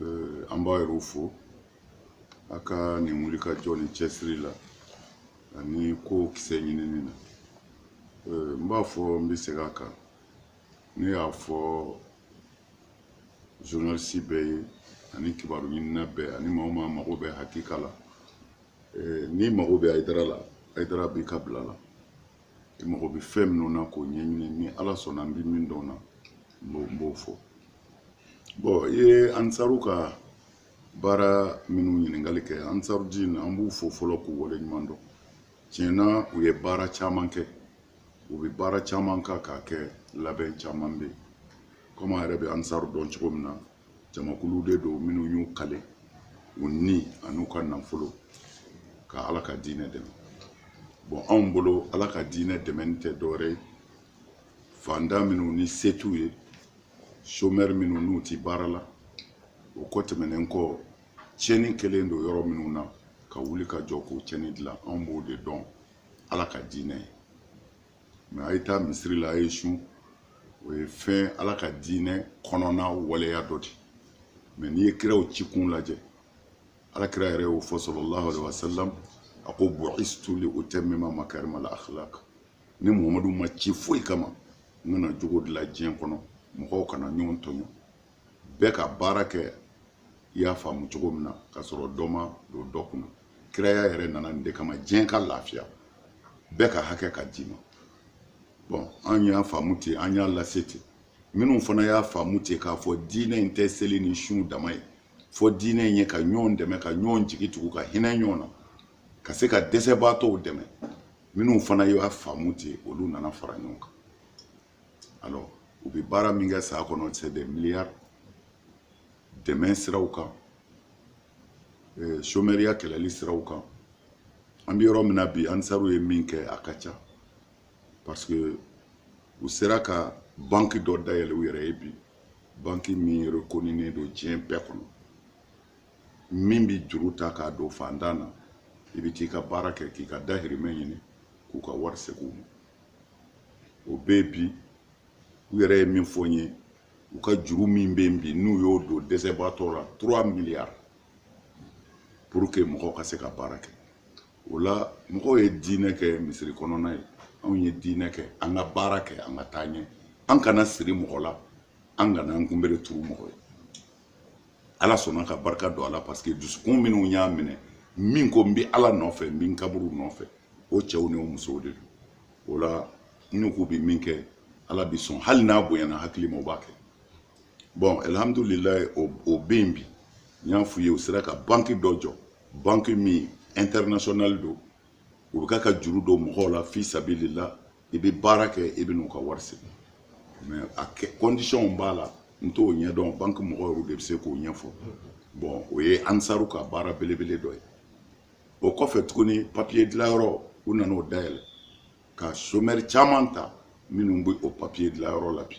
Euh, an b'a yɛrɛw fo a ka nin wulikajɔ ni cɛsiri la ani kow kisɛ ɲinini na euh, n b'a fɔ n bɛ segin a kan ne y'a fɔ journaliste bɛɛ ye ani kibaru ɲinina bɛɛ ani maa o maa mago bɛ hakika la euh, n'i mago bɛ ayidara la ayidara b'i ka bila la i mago bɛ fɛn minnu na k'o ɲɛɲini ni ala sɔnna n bɛ min dɔn na n b'o fɔ bon i ye ansaru ka baara minnu ɲininkali kɛ ansaru diin an b'u fo fɔlɔ k'u wale ɲuman dɔn tiɲɛ na u ye baara caman kɛ u bɛ baara caman kan k'a kɛ labɛn caman bɛ yen komi an yɛrɛ bɛ ansaru dɔn cogo min na jamakulu de don minnu y'u kale u ni an'u ka nafolo ka ala ka diinɛ dɛmɛ bon anw bolo ala ka diinɛ dɛmɛni tɛ dɔwɛrɛ ye fantan minnu ni se t'u ye chômeur minnu n'u ti baara la o ko tɛmɛnen kɔ tiɲɛni kɛlen don yɔrɔ minnu na ka wuli ka jɔ k'o tiɲɛni dilan anw b'o de dɔn ala ka diinɛ ye mais a ye taa misiri la a ye sun o ye fɛn ala ka diinɛ kɔnɔna waleya dɔ de mais n'i ye kiraw ci kun lajɛ ala kira yɛrɛ y'o fɔ sallallahu alaihi wasallam a ko bu'istu li utammima makarima al akhlaq ne muhamadu ma ci foyi kama n ka na jogo dilan diɲɛ kɔnɔ mɔgɔw kana ɲɔgɔn tɔɲɔ bɛɛ ka baara kɛ i y'a faamu cogo min na ka sɔrɔ dɔ ma don dɔ kunna kiraya yɛrɛ nana nin de kama diɲɛ ka lafiya bɛɛ ka hakɛ ka d'i ma bon an y'a faamu ten an y'a lase ten minnu fana y'a faamu ten k'a fɔ diinɛ in tɛ seli ni sun dama ye fo diinɛ in ye ka ɲɔgɔn dɛmɛ ka ɲɔgɔn jigi tugu ka hinɛ ɲɔgɔn na ka se ka dɛsɛbaatɔw dɛmɛ minnu fana y'a faamu ten olu nana fara ɲɔgɔn kan alors u bɛ baara min kɛ san kɔnɔ c'est des milliards dɛmɛ siraw kan euh, chômeuria kɛlɛli siraw kan an bɛ yɔrɔ min na bi ansaru ye min kɛ a ka ca parce que u sera ka banki dɔ dayɛlɛ u yɛrɛ ye bi banki min rekoninen don diɲɛ bɛɛ kɔnɔ min bɛ juru ta k'a don fantan na i bɛ t'i ka baara kɛ k'i ka dahirimɛ ɲini k'u ka wari segin u ma o bɛ yen bi u yɛrɛ ye min fɔ n ye u ka juru min bɛ yen bi n'u y'o don dɛsɛbaatɔ la trois milliards pour que mɔgɔw ka se ka baara kɛ o la mɔgɔw ye diinɛ kɛ misiri kɔnɔna ye anw ye diinɛ kɛ an ka baara kɛ an ka taa ɲɛ an kana siri mɔgɔ la an kana an kunbere turu mɔgɔ ye ala sɔnna ka barika don a la parce que dusukun minnu y'a minɛ min ko n bɛ ala nɔfɛ n bɛ n kaburu nɔfɛ o cɛw ni o musow de don o la n n'u k'u bɛ min kɛ ala bɛ sɔn hali n'a bonyana hakili ma o b'a kɛ bɔn alihamudulilayi o o bɛ yen bi n y'a f'u ye u sera ka banki dɔ jɔ banki min international don u bɛ ka ka juru don mɔgɔw la fi sabili la i bɛ baara kɛ i bɛ n'u ka wari segin mɛ a kɛ kɔndisɔnw b'a la n t'o ɲɛdɔn banki mɔgɔw yɛrɛ de bɛ se k'o ɲɛfɔ bɔn o ye ansaru ka baara belebele dɔ ye o kɔfɛ tuguni papiye dilanyɔrɔ u nana o dayɛlɛ ka somɛri caman ta minnu bɛ o papiye dilanyɔrɔ la bi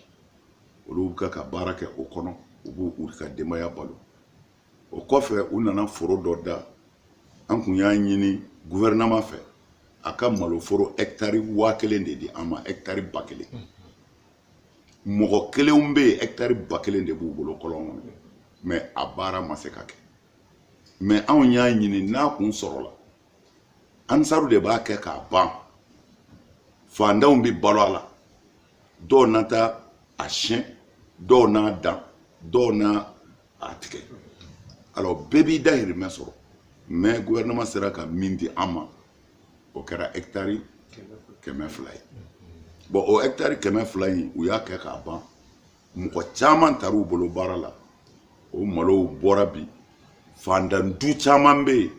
olu bɛ ka ka baara kɛ o kɔnɔ u b'u ka denbaya balo o kɔfɛ u nana foro dɔ da an kun y'a ɲini guvɛrɛnaman fɛ a ka maloforo ɛkitari waa kelen de di an ma ɛkitari ba kelen mɔgɔ kelenw bɛ yen ɛkitari ba kelen de b'u bolo kɔlɔn kɔnɔ mɛ a baara ma se ka kɛ mɛ anw y'a ɲini n'a kun sɔrɔla ansaru de b'a kɛ k'a ban fantanw bɛ balo a la dɔw na taa a siyɛn dɔw n'a dan dɔw n'a a tigɛ alors bɛɛ b'i dahirimɛ sɔrɔ mais gouvernement sera ka min di an ma o kɛra hectare kɛmɛ fila ye bon o hectare kɛmɛ fila in u y'a kɛ k'a ban mɔgɔ caman tar'u bolo baara la o malow bɔra bi fandan du caman bɛ yen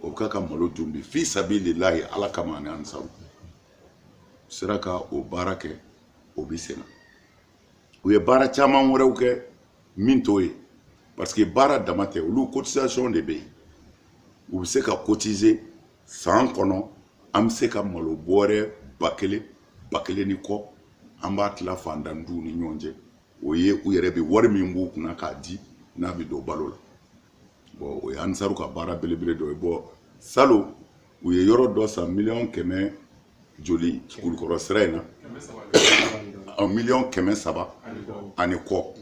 o bɛ ka ka malo dun bi fi sabililayi ala kama ani ansaru sera ka o baara kɛ o bɛ senna u ye baara caman wɛrɛw kɛ min t'o ye parce que baara dama tɛ olu cotisation de bɛ yen u bɛ se ka cotiser san kɔnɔ an bɛ se ka malo bɔrɛ ba kelen ba kelen ni kɔ an b'a tila fantan duw ni ɲɔgɔn cɛ o ye u yɛrɛ bɛ wari min b'u kunna k'a di n'a bɛ don balo la bɔn o ye anisaru ka baara belebele dɔ ye bɔn salon u ye yɔrɔ dɔ san miliyɔn kɛmɛ joli kulukɔrɔ sira in na miliyɔn kɛmɛ saba ani kɔ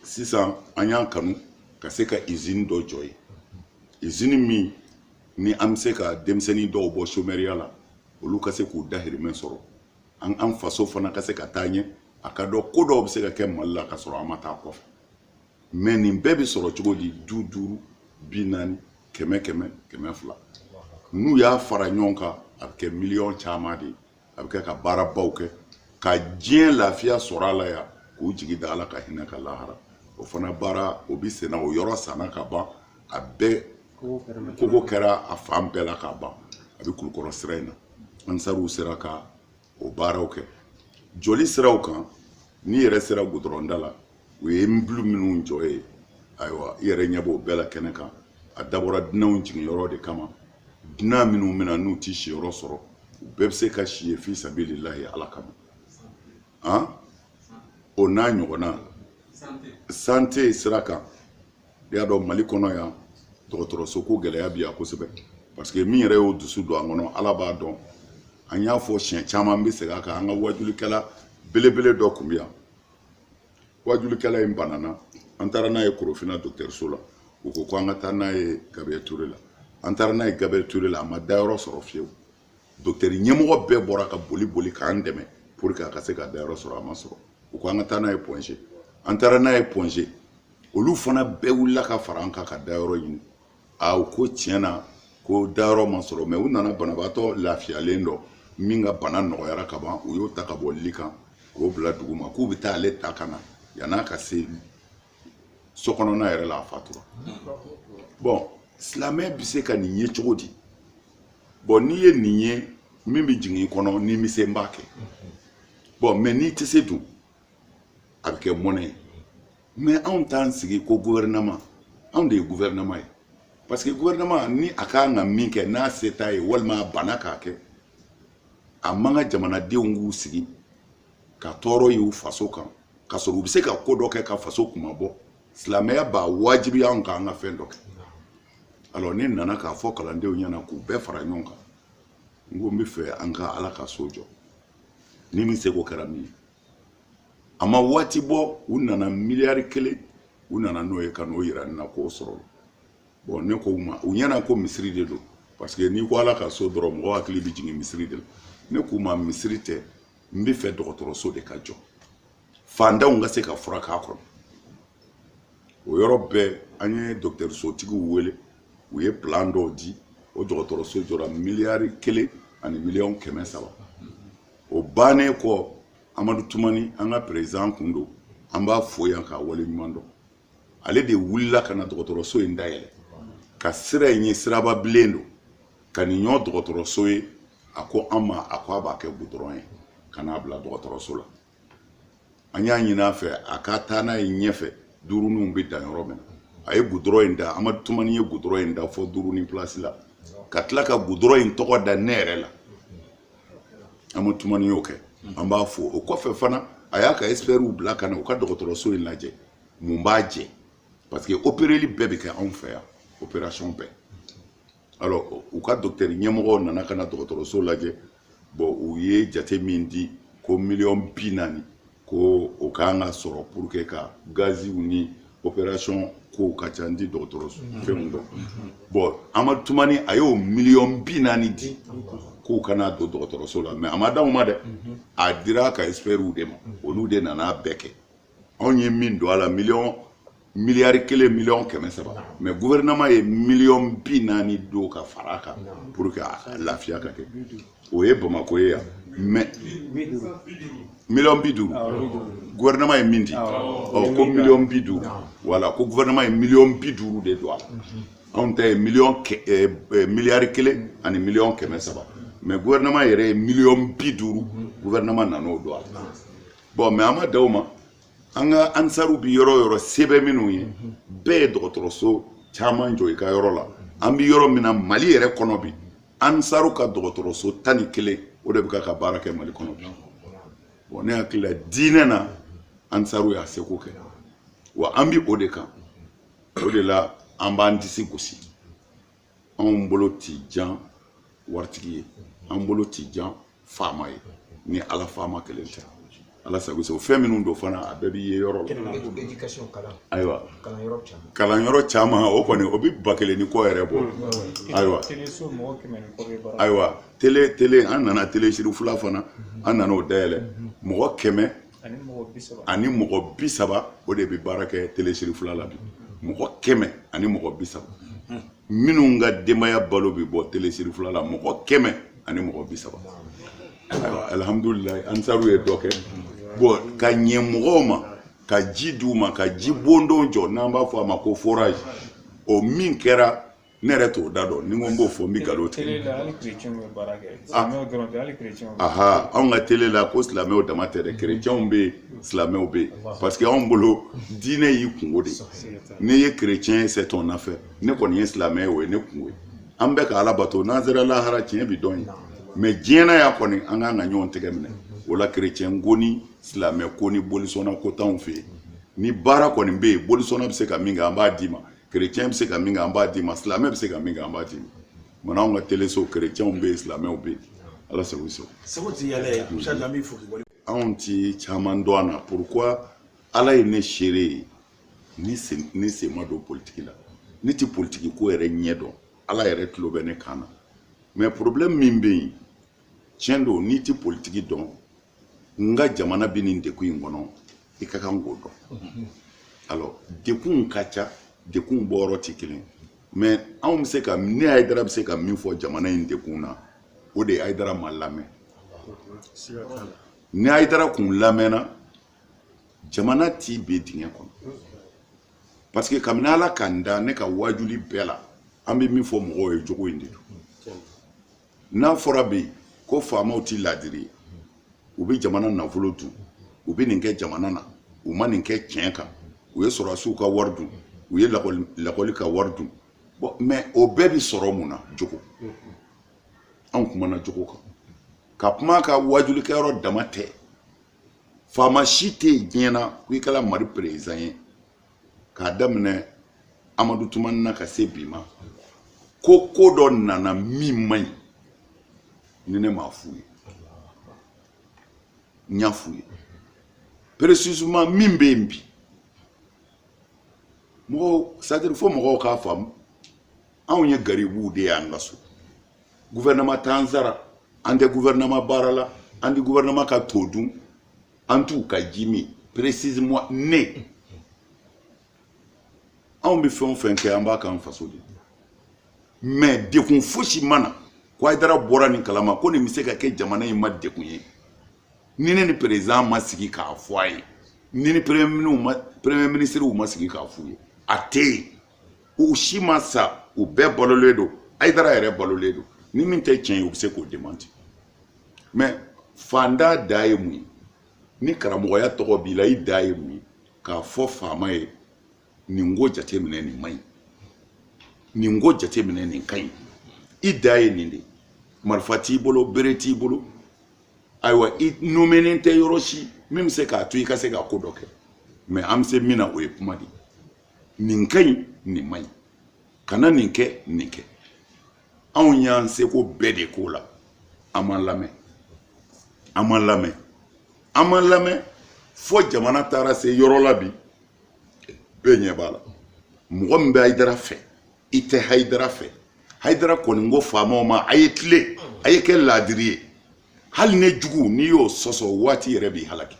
sisan an y'a kanu ka se ka izini dɔ jɔ yen izini min ni an bɛ se ka denmisɛnnin dɔw bɔ somɛriya la olu ka se k'u dahirimɛ sɔrɔ an an faso fana ka se ka taa ɲɛ a ka dɔn ko dɔw bɛ se ka kɛ mali la ka sɔrɔ an ma taa kɔfɛ mɛ nin bɛɛ bɛ sɔrɔ cogo di du duuru bi naani kɛmɛ kɛmɛ kɛmɛ fila n'u y'a fara ɲɔgɔn kan a bɛ kɛ miliyɔn caman de ye a bɛ kɛ ka baarabaw kɛ ka diɲɛ lafiya sɔrɔ a la yan k'u jigi da ala ka hinɛ kan lahara o fana baara o bɛ senna o yɔrɔ sanna ka ban a bɛɛ kogo kɛra a fan bɛɛ la ka ban a bɛ kulukɔrɔ sira in na ansariw sera ka o baaraw kɛ jɔli siraw kan n'i yɛrɛ sera gudɔrɔnda la u ye bulu minnu jɔ ye ayiwa i yɛrɛ ɲɛ b'o bɛɛ la kɛnɛ kan a dabɔra dunanw jigin yɔrɔ de kama dunan minnu bɛ na n'u ti si yɔrɔ sɔrɔ u bɛɛ bɛ se ka si ye fi sabililahi ala kama an o n'a ɲɔgɔnna sante sira kan i y'a dɔn mali kɔnɔ yan dɔgɔtɔrɔso ko gɛlɛya bi yan kosɛbɛ parce que min yɛrɛ y'o dusu don an kɔnɔ ala b'a dɔn an y'a fɔ siɲɛ caman n bɛ segin a kan an ka wajulikɛla belebele dɔ tun bɛ yan wajulikɛla in banana an taara n'a ye korofina dɔgɔtɔrɔso la u ko ko an ka taa n'a ye gabriel ture la an taara n'a ye gabriel ture la a ma dayɔrɔ sɔrɔ fiyewu dɔgɔtɔrɔ ɲɛmɔgɔ bɛɛ bɔra ka boli boli k'an dɛmɛ pour que a ka se ka dayɔrɔ sɔrɔ a ma sɔrɔ u ko an ka taa n'a ye pɔnze an taara n'a ye pɔnze olu fana bɛɛ wulila ka fara an kan ka dayɔrɔ ɲini a u ko tiɲɛ na ko dayɔrɔ ma sɔrɔ mɛ u nana banabaatɔ lafiyalen dɔ min ka bana nɔgɔyara ka ban u y'o ta ka bɔ li kan k'o bila dugu ma k'u bɛ taa ale ta ka na yann'a ka se so kɔnɔna yɛrɛ la a fatura bɔn silamɛ bɛ se ka nin ye cogo di bɔn n'i ye nin ye min bɛ jigin i kɔnɔ n'i bɛ se i b'a kɛ bɔn mɛ n'i tɛ se dun a bɛ kɛ mɔnɛ ye mɛ anw t'an sigi ko guvɛrɛnɛman anw de ye guvɛrɛnɛman ye parce que guvɛrɛnɛman nin ka kan ka min kɛ n'a se t'a ye walima a banna k'a kɛ a man kan jamanadenw k'u sigi ka tɔɔrɔ y'u faso kan ka sɔrɔ u bɛ se ka ko dɔ kɛ ka faso kunmabɔ silamɛya b'a wajibiya anw kan ka fɛn dɔ kɛ alors ne nana k'a fɔ kalandenw ɲɛna k'u bɛɛ fara ɲɔgɔn kan n ko n bɛ fɛ an ka ala ka so jɔ ni min seko kɛra min ye a ma waati bɔ u nana miliyari kelen u nana n'o ye ka n'o yira ne na k'o sɔrɔla bɔn ne ko u ma u ɲɛna ko misiri de don parce que n'i ko ala ka so dɔrɔn mɔgɔ hakili bɛ jigin misiri de la ne k'u ma misiri tɛ n bɛ fɛ dɔgɔtɔrɔso de ka jɔ fantanw ka se ka furakɛ a kɔnɔ o yɔrɔ bɛɛ an ye dɔgɔtɔrɔsotigiw wele u ye plan dɔw di o dɔgɔtɔrɔso jɔra miliyari kelen ani miliyɔn kɛmɛ saba o bannen kɔ amadu tumani an ka perezidan kun don an b'a fo yan k'a wale ɲuman dɔn ale de wulila ka na dɔgɔtɔrɔso in dayɛlɛ ka sira in ye siraba bilen don ka nin ɲɔgɔn dɔgɔtɔrɔso ye a ko an ma a ko a b'a kɛ gudɔrɔn ye ka n'a bila dɔgɔtɔrɔso la an y'a ɲini a fɛ a ka taa n'a ye ɲɛfɛ duuruninw bɛ dan yɔrɔ min na a ye gudɔrɔn in da amadu tumani ye gudɔrɔn in da fo duurunin pilasi la ka tila ka gudɔrɔn in tɔgɔ da ne yɛrɛ la amadu tumani y'o kɛ an b'a fo o kɔfɛ fana a y'a ka ɛsipɛriw bila ka na u ka dɔgɔtɔrɔso in lajɛ mun b'a jɛ parce que opereli bɛɛ bɛ kɛ anw fɛ yan operasɔn bɛɛ alors u ka docteur ɲɛmɔgɔw nana ka na dɔgɔtɔrɔso lajɛ bɔn u ye jate min di ko miliyɔn bi naani ko o kan ka sɔrɔ pour que ka gaziw ni opération kow ka ca n ti dɔgɔtɔrɔso mm-hmm. fɛnw dɔn mm-hmm. bɔn amadu tumani a y'o miliyɔn bi naani di k'u ka n'a don dɔgɔtɔrɔso la mɛ a ma d'anw ma dɛ mm-hmm. a dira ka expertw de ma olu de nana bɛɛ kɛ anw ye min don a la miliyɔn miliyari kelen miliyɔn kɛmɛ saba mɛ guvɛrɛnɛman ye miliyɔn bi naani don ka fara a kan pour que a lafiya ka kɛ o ye bamako ye yan mɛ miliyɔn bi duuru guvɛrɛnɛman ye min di ɔ ko miliyɔn bi duuru wala ko guvɛrɛnɛman ye miliyɔn bi duuru de don a la anw ta ye miliyɔn miliyari kelen ani miliyɔn kɛmɛ saba mɛ guvɛrɛnɛman yɛrɛ ye miliyɔn bi duuru guvɛrɛnɛman nan'o don a la bɔn mɛ an ma dan o ma an ka ansaru bi yɔrɔ yɔrɔ sɛbɛ minnu ye bɛɛ ye dɔgɔtɔrɔso caman jɔ i ka yɔrɔ la an bi yɔrɔ min na mali yɛrɛ kɔnɔ bi ansaru ka dɔgɔtɔrɔso tan ni kelen o de bɛ ka baara kɛ mali kɔnɔ bi bɔn ne hakili la diinɛ na ansaru y'a seko kɛ wa an bi o de kan o de la an b'an disi gosi anw bolo ti jan waritigi ye an bolo ti jan faama ye ni ala faama kelen tɛ ala sago sago fɛn minnu don fana a bɛɛ b'i ye yɔrɔ la ayiwa kalan yɔrɔ caman o kɔni o bɛ ba kelen ni kɔ yɛrɛ bɔ ayiwa ayiwa tele tele an nana tele serifula fana an nana o dayɛlɛ mɔgɔ kɛmɛ ani mɔgɔ bi saba o de bɛ baara kɛ tele serifula la bi mɔgɔ kɛmɛ ani mɔgɔ bi saba minnu ka denbaya balo bɛ bɔ tele serifula la mɔgɔ kɛmɛ ani mɔgɔ bi saba alihamudulilayi ansaru ye dɔ kɛ bɔn ka ɲɛ mɔgɔw ma ka ji di u ma ka ji bondon jɔ n'an b'a fɔ a ma ko forage o min kɛra ne yɛrɛ t'o da dɔn ni n ko n b'o fɔ n bɛ nkalon tigɛ ah. aha anw ka tele la ko silamɛw dama tɛ dɛ kerecɛnw bɛ yen silamɛw bɛ yen parce que anw bolo diinɛ y'i kungo de ye n'i ye kerecɛn ye c'est ton affaire ne kɔni ye silamɛ ye o ye ne kungo ye an bɛ ka ala bato n'an sera lahara tiɲɛ bi dɔn yen mɛ diɲɛ na yan kɔni an kan ka ɲɔgɔn tɛgɛ minɛ o la kerecɛn ko ni silamɛ ko ni bolisɔnna ko t'anw fɛ yen ni baara kɔni bɛ yen bolisɔnna bɛ se ka min kɛ an b'a d'i ma chrétien bɛ se ka min kɛ an b'a d'i ma silamɛ bɛ se ka min kɛ an b'a d'i ma mɛ anw ka teleso chrétienw bɛ yen silamɛw bɛ yen ala sago sago sago ti yala ye musa lambi fo k'i wale aw ti caman dɔn an na pourquoi ala ye ne seere ye ne sen ne sen ma don politiki la ne ti politiki ko yɛrɛ ɲɛ dɔn ala yɛrɛ tulo bɛ ne kan na mɛ problème min bɛ yen tiɲɛ don n'i ti politiki dɔn nka jamana bɛ nin dekun in kɔnɔ i ka kan k'o dɔn alors dekunw ka ca dekunw bɔyɔrɔ tɛ kelen mais anw bɛ se ka ne ayidara bɛ se ka min fɔ jamana in dekun na o de ye ayidara ma lamɛn ni ayidara kun lamɛnna jamana tɛ bin dingɛ kɔnɔ parce que kabini ala ka n da ne ka waajuli bɛɛ la an bɛ min fɔ mɔgɔw ye jogo in de don n'a fɔra bi ko faamaw tɛ laadiri ye u bɛ jamana nafolo dun u bɛ nin kɛ jamana na u ma nin kɛ tiɲɛ kan u ye sɔrɔdasiw ka wari dun u ye lakɔli ka wari dun bɔn mɛ o bɛɛ bɛ sɔrɔ mun na jogo anw kumana jogo kan ka kuma ka waajulikɛyɔrɔ dama tɛ faama si tɛ yen diɲɛ na ko i kɛra mali perezidan ye k'a daminɛ amadu tumani na ka se bi ma ko ko dɔ nana min man ɲi ni ne m'a f'u ye n y'a f'u ye précisément min bɛ yen bi mɔgɔw c'est-à-dire fo mɔgɔw k'a faamu anw ye garibuw de y'an ka so guvɛrɛnɛma t'an sara an tɛ guvɛrɛnɛma baara la an tɛ guvɛrɛnɛma ka to dun En tout cas, Jimmy, précisément ne. Anw bɛ fɛn o fɛn kɛ an b'a k'an faso de mais dekun fosi ma na ko Ayidara bɔra nin kalama ko nin bɛ se ka kɛ jamana in ma dekun ye ni ne ni président ma sigi k'a fɔ a ye ni ni premier ministre ma premier ministre ma sigi k'a f'u ye a tɛ yen u si ma sa u bɛɛ balolen don Ayidara yɛrɛ balolen don ni min tɛ tiɲɛ ye u bɛ se k'o démentir mɛ faantan dan ye mun ye ni karamɔgɔya tɔgɔ b'i la i dan ye mun ye k'a fɔ faama ye nin ko jateminɛ nin man ɲi nin ko jateminɛ nin ka ɲi i dan ye nin de ye marifa t'i bolo bere t'i bolo ayiwa i nomenen tɛ yɔrɔ si min bɛ se k'a to i ka se ka ko dɔ kɛ mɛ an bɛ se min na o ye kuma de ye nin ka ɲi nin man ɲi kana nin kɛ nin kɛ anw y'an seko bɛɛ de k'o la an ma lamɛn an ma lamɛn an ma lamɛn fo jamana taara se yɔrɔ la bi bɛɛ ɲɛ b'a la mɔgɔ min bɛ hayidara fɛ i tɛ hayidara fɛ hayidara kɔni ko faamaw ma a ye tilen a ye kɛ laadiri ye hali ne jugu n'i y'o sɔsɔ waati yɛrɛ b'i halaki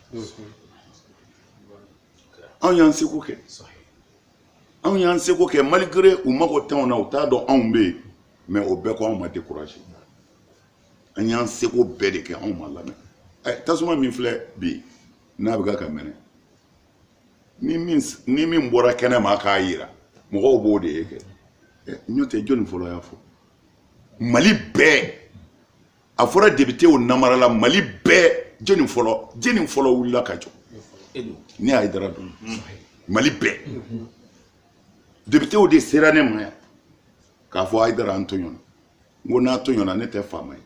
anw y'an seko kɛ anw y'an seko kɛ malgré u mago t'anw na u t'a dɔn anw bɛ yen mɛ o bɛɛ kɔ anw ma dekuraje an y'an seko bɛɛ de kɛ anw ma lamɛn ɛ tasuma min filɛ bi n'a bɛ ka ka mɛnɛ ni min ni min bɔra kɛnɛ ma k'a yira mɔgɔw b'o de ye kɛ ɛ n'o tɛ jɔni fɔlɔ y'a fɔ mali bɛɛ a fɔra depitew namarala mali bɛɛ jɔni fɔlɔ jɔni fɔlɔ wulila ka jɔ ne ayidara don mali bɛɛ depitew de sera ne ma yan k'a fɔ ayidara an tɔɲɔna n ko n'a tɔɲɔna ne tɛ faama ye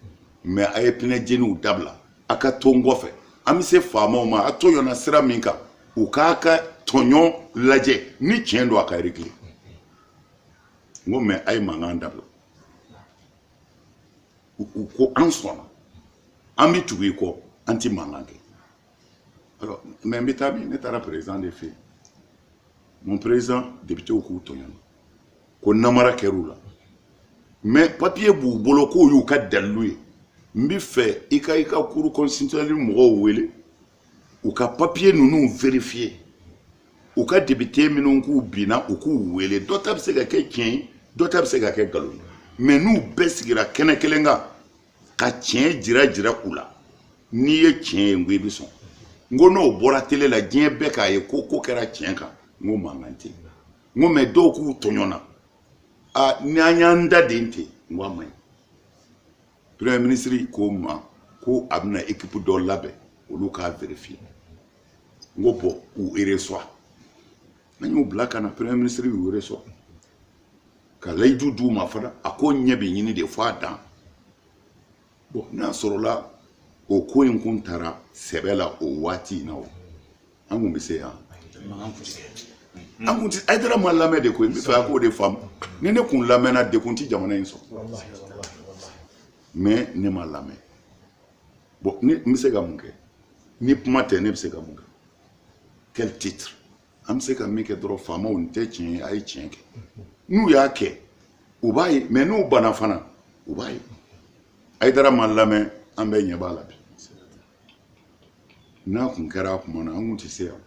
mɛ a ye pinɛ jeniw dabila a ka to n kɔfɛ an bɛ se faamaw ma a tɔɲɔna sira min kan u k'a ka tɔɲɔ lajɛ ni tiɲɛ don a k'a regile n ko mɛ a ye mankan dabila u ko an sɔnna an bɛ tugu i kɔ an tɛ mankan kɛ alors mais n bɛ taa min ne taara président de fɛ yen mon président députéw k'u tɔɲɔna ko namara kɛr'u la mais papier b'u bolo k'o y'u ka dalilu ye n bɛ fɛ i ka i ka cour constitutionnelle mɔgɔw wele u ka papiye ninnu verifiye u ka depite minnu k'u binna u k'u wele dɔ ta bɛ se ka kɛ tiɲɛ ye dɔ ta bɛ se ka kɛ nkalon ye mɛ n'u bɛɛ sigira kɛnɛ kelen kan ka tiɲɛ jira jira u la n'i ye tiɲɛ ye n ko i bɛ sɔn n ko n'o bɔra tele la diɲɛ bɛɛ k'a ye ko ko kɛra tiɲɛ kan n ko mankan tɛ n ko mɛ dɔw k'u tɔɲɔna a n'an y'an da den ten n ko a man ɲi premier ministre ko n ma ko a bɛna ekipu dɔ labɛn olu k'a verifiye n ko bɔn u ereswa an y'u bila ka na premier ministre y'u ereswa ka layidu d'u ma fana a ko ɲɛ bɛ ɲini de fo a dan bɔn n'a sɔrɔla o ko in kun tara sɛbɛ la o waati in na o an kun bɛ se yan an kun ti ayidara ma lamɛn de koyi n bɛ fɛ a k'o de faamu ni ne kun lamɛnna nin kun ti jamana in sɔrɔ mɛ ne ma lamɛn bɔn ne n bɛ se ka mun kɛ ni kuma tɛ ne bɛ se ka mun kɛ quel titre an bɛ se ka min kɛ dɔrɔn faamaw nin tɛ tiɲɛ ye a ye tiɲɛ kɛ n'u y'a kɛ u b'a ye mɛ n'u banna fana u b'a ye ayidara ma lamɛn an bɛɛ ɲɛ b'a la bi n'a kun kɛra a tuma na an kun tɛ se yan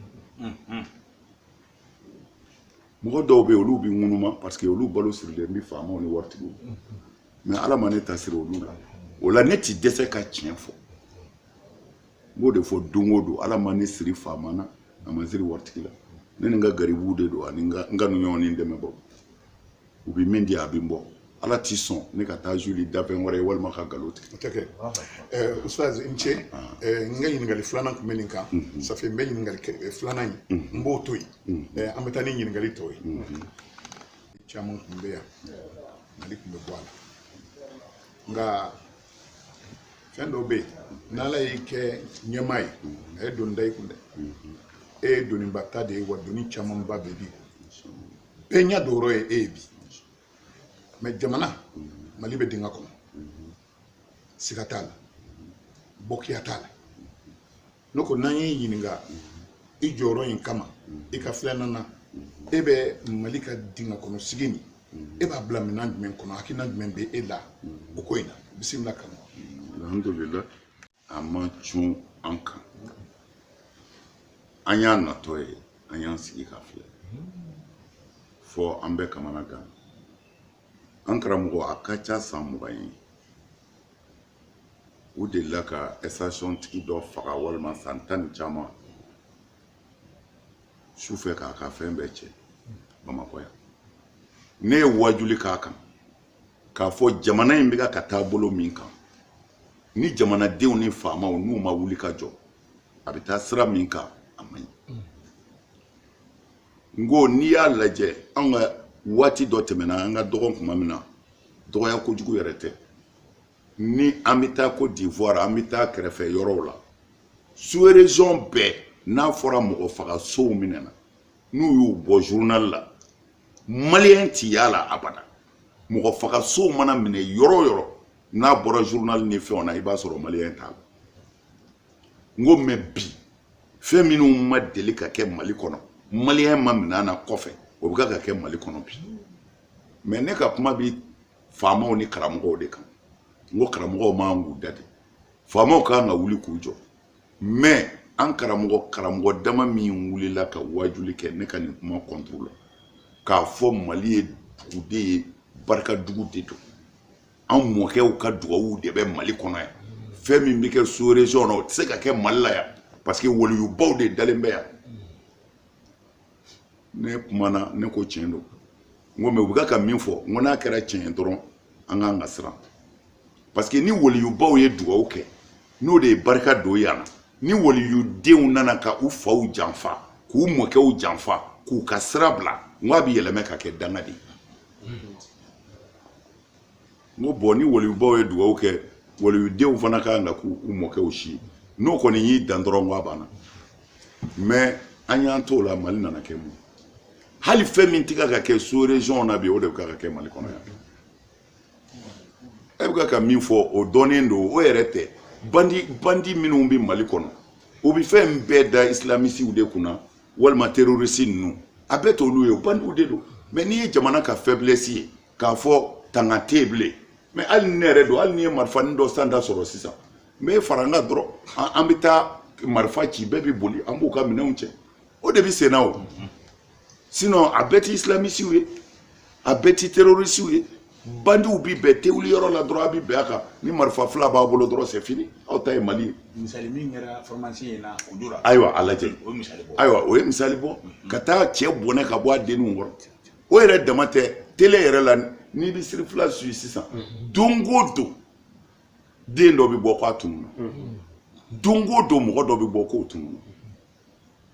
mɔgɔ dɔw bɛ yen olu bɛ ŋunuma parce que olu balo sirilen bɛ faamaw ni waritigiw mɛ ala ma ne ta siri olu la o la ne ti dɛsɛ ka tiɲɛ fɔ n b'o de fɔ don o don ala ma ne siri faama na a ma siri waritigi la ne ni n ka garibuw de don ani n ka n ka ɲɔgɔn ni dɛmɛbagaw u bɛ min di a bɛ n bɔ ala ti sɔn ne ka taa joli danfɛn wɛrɛ ye walima ka nkalon tigɛ o tɛ kɛ ɛɛ ustaz i ni ce ɛɛ n ka ɲininkali filanan tun bɛ nin kan ça fait n bɛ ɲininkali kɛ filanan in n b'o to yen ɛɛ an bɛ taa ni ɲininkali tɔw ye caman tun bɛ yan mali tun bɛ bɔ a la nka fɛn dɔw bɛ yen n'ala y'i kɛ ɲɛmaa ye a ye doni da i kun dɛ e ye doniba ta de ye wa doni camanba de b'i kun bɛɛ ɲɛ don yɔrɔ ye e ye bi mɛ jamana mali bɛ dingɛ kɔnɔ siga t'a la bɔkiya t'a la ne ko n'an y'i ɲininka i jɔyɔrɔ in kama i ka filanan na e bɛ mali ka dingɛ kɔnɔ sigi nin e b'a bila minɛn jumɛn kɔnɔ hakilina jumɛn bɛ e la o ko in na bisimila karamɔgɔ alhamdulilayi a ma cun an kan an y'a natɔ ye an y'an sigi k'a filɛ fɔ an bɛ kamana gan an karamɔgɔ a ka ca san mugan ye u delila ka ɛsitasiyɔn tigi dɔ faga walima san tan ni caman su fɛ k'a ka fɛn bɛɛ cɛ bamakɔ yan ne ye wajuli k'a kan k'a fɔ jamana in bɛ ka ka taa bolo min kan ni jamanadenw ni faamaw n'u ma wuli ka jɔ a bɛ taa sira min kan a man ɲi n ko n'i y'a lajɛ an ka waati dɔ tɛmɛna an ka dɔgɔn kuma min na dɔgɔya kojugu yɛrɛ tɛ ni an bɛ taa kɔdiwari an bɛ taa kɛrɛfɛ yɔrɔw la sous-région bɛɛ n'a fɔra mɔgɔ fagasow minɛna n'u y'u bɔ zurunali la maliyɛn tɛ y'a la abada mɔgɔ fagaso mana minɛ yɔrɔ o yɔrɔ n'a bɔra zurunali ni fɛnw na i b'a sɔrɔ maliyɛn t'a la n ko mɛ bi fɛn minnu ma deli ka kɛ mali kɔnɔ maliyɛn ma minɛ a la kɔfɛ o bɛ ka ka kɛ mali kɔnɔ bi mɛ ne ka kuma bɛ faamaw ni karamɔgɔw de kan n ko karamɔgɔw man k'u da de faamaw kan ka wuli k'u jɔ mɛ an karamɔgɔ karamɔgɔ dama min wulila ka wajuli kɛ ne ka nin kuma kɔntoro la k'a fɔ mali ye dugaden ye barika dugu de don an mɔkɛw ka dugawu de bɛ mali kɔnɔ yan fɛn min bɛ kɛ sous-région na o tɛ se ka kɛ mali la yan parce que waliyubaw de dalen bɛ yan ne kumana ne ko tiɲɛ don n ko mɛ u bɛ ka min fɔ n ko n'a kɛra tiɲɛ ye dɔrɔn an ka kan ka siran parce que ni waliyubaw ye dugawu kɛ n'o de ye barika don yan na ni waliyudenw nana ka u faw janfa k'u mɔkɛw janfa k'u ka sira bila n ko a bɛ yɛlɛma ka kɛ danga de ye n ko bɔn ni waliyubaw ye dugawu kɛ waliyudenw fana ka kan ka k'u mɔkɛw si n'o kɔni y'i dan dɔrɔn ko a banna mɛ an y'an t'o la mali nana kɛ mun hali fɛn min tɛ ka kɛ sous-région na bi o de bɛ ka kɛ mali kɔnɔ yan e bɛ ka ka min fɔ o dɔnnen don o yɛrɛ tɛ bandi bandi minnu bɛ mali kɔnɔ u bɛ fɛn bɛɛ da isilamisiw de kunna walima terorisi ninnu a bɛɛ t'olu ye bandiw de don mɛ n'i ye jamana ka fɛbilɛsi ye k'a fɔ tanga tɛ yen bilen mɛ hali ni ne yɛrɛ don hali ni n ye marifanin dɔ sanda sɔrɔ sisan n bɛ fara u kan dɔrɔn an bɛ taa marifa ci bɛɛ bɛ boli an b'u ka minɛnw cɛ o de bɛ senna o sinɔn a bɛɛ ti isilamisiw ye a bɛɛ ti terorisiw ye bandiw bi bɛɛ tewuli yɔrɔ la dɔrɔn a bi bɛn a kan ni marifa fila b'a bolo dɔrɔn c'est fini aw ta ye mali ye misali min kɛra formation in na o dora ayiwa a lajɛ o ye misali bɔ ayiwa o ye misali bɔ ka taa cɛ bɔnɛ ka bɔ a denninw kɔrɔ o yɛrɛ dama tɛ tele yɛrɛ la n'i bɛ siri fila suyi sisan don o don den dɔ bɛ bɔ k'a tunun na don o don mɔgɔ dɔ bɛ bɔ k'o tunun na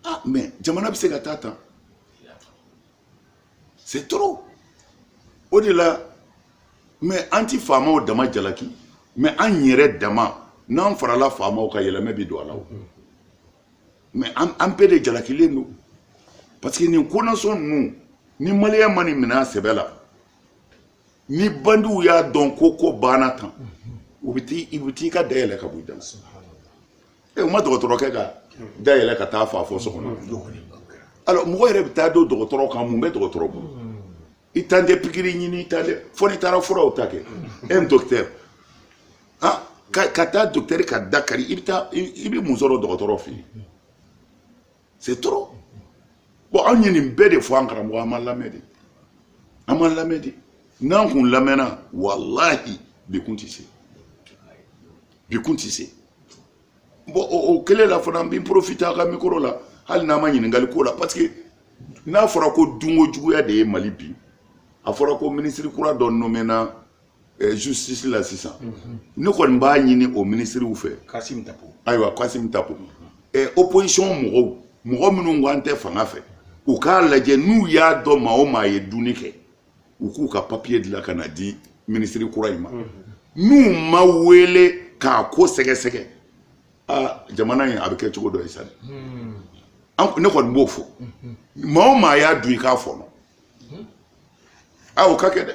ah mais jamana bɛ se ka taa tan c'est trop o de la mais an ti faamaw dama jalaki mais an yɛrɛ dama n'an farala faamaw kan yɛlɛmɛ bi don a la o mais an an bɛɛ de jalakilen don parce que nin konasɔn ninnu ni maliyɛnw ma nin minɛ a sɛbɛ la ni bandiw y'a dɔn ko ko banna tan u bɛ t'i u bɛ t'i ka da yɛlɛ ka bɔ i da la e ma dɔgɔtɔrɔkɛ ka da yɛlɛ ka t'a faga fo so kɔnɔ alors mɔgɔ yɛrɛ bɛ taa don dɔgɔtɔrɔ kan mun bɛ dɔgɔtɔrɔ bolo i taalen tɛ pikiri ɲini i taalen tɛ fo n'i taara furaw ta kɛ un docteur ah ka ka taa docteur ka da kari i bɛ taa i bɛ mun sɔrɔ dɔgɔtɔrɔ fɛ yen c'est trop bon anw ye nin bɛɛ de fɔ an karamɔgɔ an ma lamɛn dɛ an ma lamɛn dɛ n'an kun lamɛnna walahi bi kun tɛ se bi kun tɛ se bon o kelen la fana n bɛ profite a ka mikoro la hali n'an ma ɲininkali k'o la parce que n'a fɔra ko dunko juguya de ye mali bin a fɔra ko minisiri kura dɔ nomena Eh, justice la sisan mhm. ne kɔni b'a ɲini o minisiriw fɛ ayiwa kasim tapo mhm. eh, opposition mɔgɔw mɔgɔ minnu ko an tɛ fanga fɛ u k'a lajɛ n'u y'a dɔn maa o maa ye dunni kɛ u k'u ka papiye dilan ka n'a di minisiri kura in ma mhm. n'u m'a wele k'a ko sɛgɛsɛgɛ aa jamana in a bɛ kɛ cogo dɔ ye sa hmm. ne kɔni b'o fɔ maa o maa y'a dun i k'a fɔnɔ aw k'a kɛ dɛ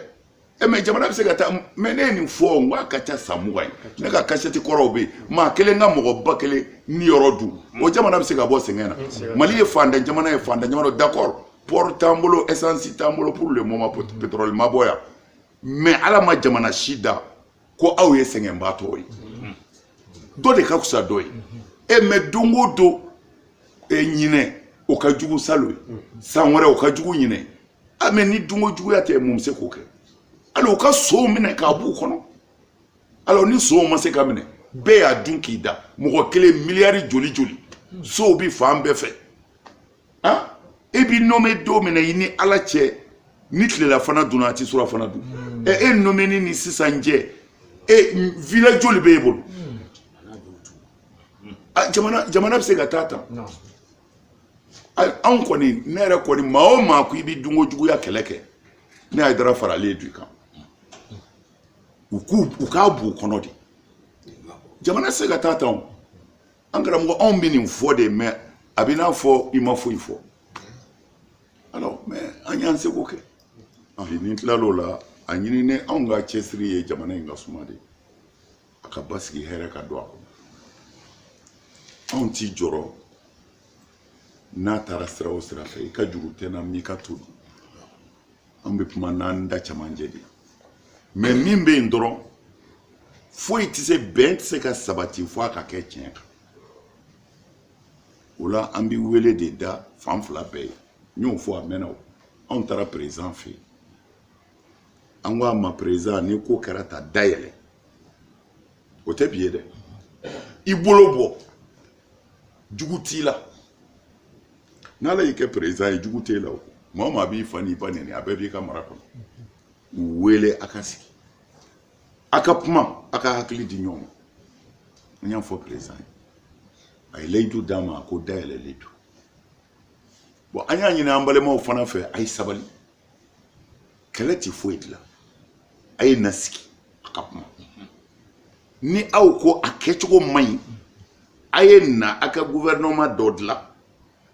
e mɛ jamana bɛ se ka taa mɛ ne ye nin fɔ n k'a ka ca san mugan ye ne ka kasɛti kɔrɔw bɛ yen maa kelen ka mɔgɔ ba kelen niyɔrɔ dun o jamana bɛ se ka bɔ sɛgɛn na mali ye fantan jamana ye fantan jamana d'accord pɔri t'an bolo esansi t'an bolo pour le moment pétrole ma bɔ yan mɛ ala ma jamana si da ko aw ye sɛgɛnbaatɔ ye dɔ de ka fisa dɔ ye e mɛ don o don e ɲinan o ka jugu salon ye san wɛrɛ o ka jugu ɲinan ye a mɛ ni dunko juguya tɛ mun bɛ se k'o kɛ hali u ka sonw minɛ k'a b'u kɔnɔ alors ni sonw ma se ka minɛ bɛɛ y'a dun k'i da mɔgɔ kelen miliyari joli joli sow bi fan bɛɛ fɛ an e b'i nɔmɛ don min na i ni ala cɛ ni tilelafana dunna a ti surafana dun hmm. ɛ e nɔmɛni ni sisan cɛ e villa joli b'e bolo hmm. jamana jamana bɛ se ka taa tan anw kɔni ne yɛrɛ kɔni maa o maa ko i bɛ dunko juguya kɛlɛ kɛ ne ayidara faralen don i kan u k'u u k'a b'u kɔnɔ de jamana tɛ se ka taa tan o an karamɔgɔ anw bɛ nin fɔ de mɛ a b'i n'a fɔ i ma foyi fɔ alors mɛ an y'an seko kɛ n'i tilal'o la a ɲini ne anw ka cɛsiri ye jamana in ka suma de a ka basigi hɛrɛ ka don a kɔnɔ anw t'i jɔrɔ n'a taara sira o sira fɛ i ka jugu tɛna m'i ka to dun an bɛ kuma n'an da cɛmancɛ de mɛ min bɛ yen dɔrɔn foyi tɛ se bɛn tɛ se ka sabati fo a ka kɛ tiɲɛ kan o la an bɛ wele de da fan fila bɛɛ ye n y'o fɔ a mɛnna o anw taara perezidan fɛ yen an ko a ma perezidan ni ko kɛra tan da yɛlɛ o tɛ bi ye dɛ i bolo bɔ jugu t'i la n'ala y'i kɛ perezidan ye jugu t'e la o maa o maa b'i fa n'i ba nɛni a bɛɛ b'i ka mara kɔnɔ u wele a ka sigi a ka kuma a ka hakili di ɲɔgɔn ma n y'a fɔ perezidan ye a ye layidu d'an ma a ko da yɛlɛlen don bon an y'a ɲini an balimaw fana fɛ a ye sabali kɛlɛ tɛ foyi dilan a ye na sigi a ka kuma ni aw ko a kɛcogo man ɲi a ye na a ka guvɛrɛnɛma dɔ dilan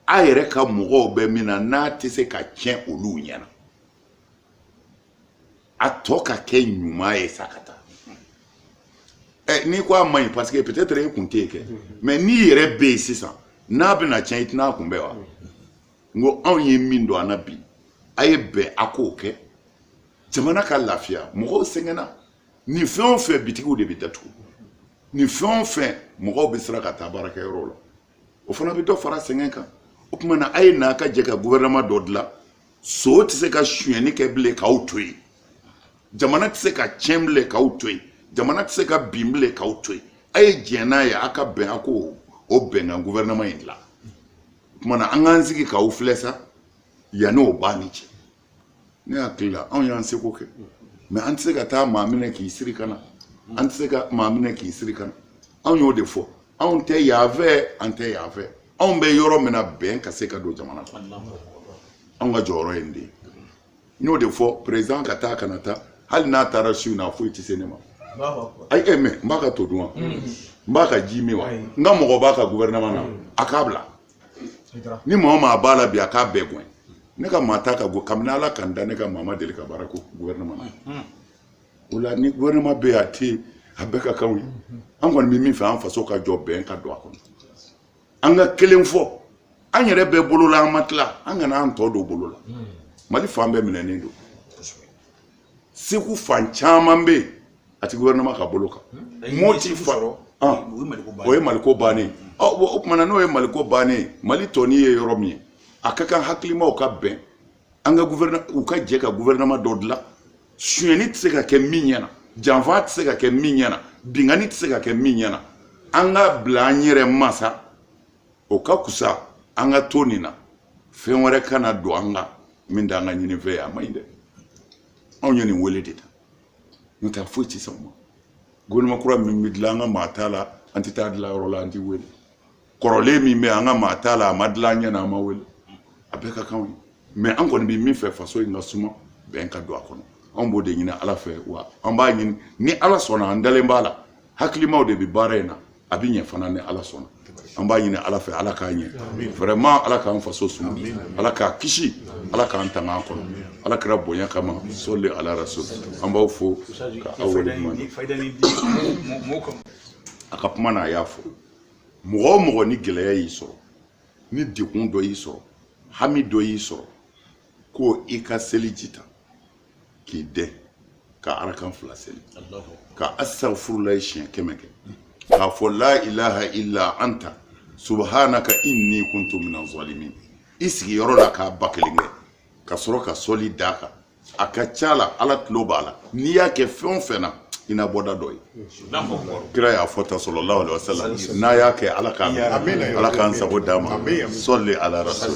a yɛrɛ ka mɔgɔw bɛ min na n'a tɛ se ka tiɲɛ olu ɲɛna a tɔ ka kɛ ɲuman ye sa ka taa ɛ n'i ko a man ɲi parce que peut-être e kun tɛ yen kɛ mais n'i yɛrɛ bɛ yen sisan n'a bɛna tiɲɛ i tɛna a kunbɛn wa. n ko anw ye min dɔn an na bi a ye bɛn a k'o kɛ jamana ka lafiya mɔgɔw sɛgɛnna nin fɛn o fɛn bitigiw de bɛ datugu nin fɛn o fɛn mɔgɔw bɛ siran ka taa baarakɛyɔrɔw la o fana bɛ dɔ fara sɛgɛn kan o tuma na a ye n'a ka jɛ ka guvɛrɛnama dɔ dilan son tɛ se ka sonyɛni kɛ bilen k'aw to yen jamana tɛ se ka tiɲɛ bilen k'aw to yen jamana tɛ se ka bin bilen k'aw to yen a ye diɲɛ n'a ye a ka bɛn a k'o bɛnkan guvɛrɛnama in dilan o kuma na an k'an sigi k'aw filɛ sa yann'o b'a ni cɛ ne hakili la anw y'an seko kɛ mɛ an tɛ se ka taa maa minɛ k'i siri ka na an tɛ se ka maa minɛ k'i siri ka na anw y'o de fɔ anw tɛ yan fɛ an tɛ yan fɛ anw bɛ yɔrɔ min na bɛn ka se ka don jamana kɔnɔ anw ka jɔyɔrɔ ye nin de ye n y'o de fɔ peresidan ka taa kana taa hali n'a taara su na foyi tɛ se ne ma ayi e mɛ n b'a ka to dun wa n b'a ka ji min wa n ka mɔgɔ b'a ka gouvernement na a k'a bila ni maa o maa b'a la bi a k'a bɛɛ gɛn ne ka maa t'a ka go kabini ala ka n da ne ka maa ma deli ka baara kɛ gouvernement na o la ni gouvernement bɛ yen a tɛ yen a bɛɛ ka kan anw ye an kɔni bɛ min fɛ an faso ka jɔ bɛn ka don a kɔnɔ an ka kelen fɔ an yɛrɛ bɛ bolo la an ma tila an kana an tɔ don bolo la hmm. mali fan bɛɛ minɛnen don segu fan caman bɛ yen a ti gouvernement ka bolo kan hmm. moti fa ah. o ye maliko bannen hmm. o tuma na n'o ye maliko bannen mali tɔnin ye yɔrɔ min ye a ka kan hakilimaw ka bɛn an ka u ka jɛ ka gouvernement dɔ dilan sonyɛni tɛ se ka kɛ min ɲɛna janfa tɛ se ka kɛ min ɲɛna binkanni tɛ se ka kɛ min ɲɛna an ka bila an yɛrɛ ma sa o ka fisa an ka to nin na fɛn wɛrɛ kana don an kan min t'an ka ɲinifɛn ye a ma ɲi dɛ anw ye nin wele de ta n'o tɛ foyi tɛ sɔn o ma gouvernement kura min bɛ dilan an ka maa t'a la an tɛ taa dilan yɔrɔ la an tɛ wele kɔrɔlen min bɛ an ka maa t'a la a ma dilan an ɲɛ na an ma wele a bɛɛ ka kan an ye mais an kɔni bɛ min fɛ faso in ka suma bɛn ka don a kɔnɔ anw b'o de ɲini ala fɛ wa an b'a ɲini ni ala sɔnna an dalen b'a la hakilimaw de bɛ baara in na a bɛ ɲɛ fana ni ala sɔnna an b'a ɲini ala fɛ ala k'a ɲɛ vraiment ala k'an faso suma ala k'a kisi ala k'an tanga an kɔnɔ ala kira bonya kama sɔli ala rasul an b'aw fo ka aw wale ɲuman a ka kuma na a y'a fo mɔgɔ o mɔgɔ ni gɛlɛya y'i sɔrɔ ni degun dɔ y'i sɔrɔ hami dɔ y'i sɔrɔ ko i ka seliji ta k'i dɛn ka arakan fila seli ka astagfirulayi siɲɛ kɛmɛ kɛ k'a fɔ la ilaha illa anta subhanaka inni kuntu minan zalimin i sigiyɔrɔ la k'a ba kelen kɛ ka sɔrɔ ka sɔli d'a kan a ka ca la ala tulo b'a la n'i y'a kɛ fɛn o fɛn na i na bɔda dɔ ye kira y'a fɔ tan salalahu wa salam n'an y'a kɛ ala k'a ala k'an sago d'an ma sɔli ala rasul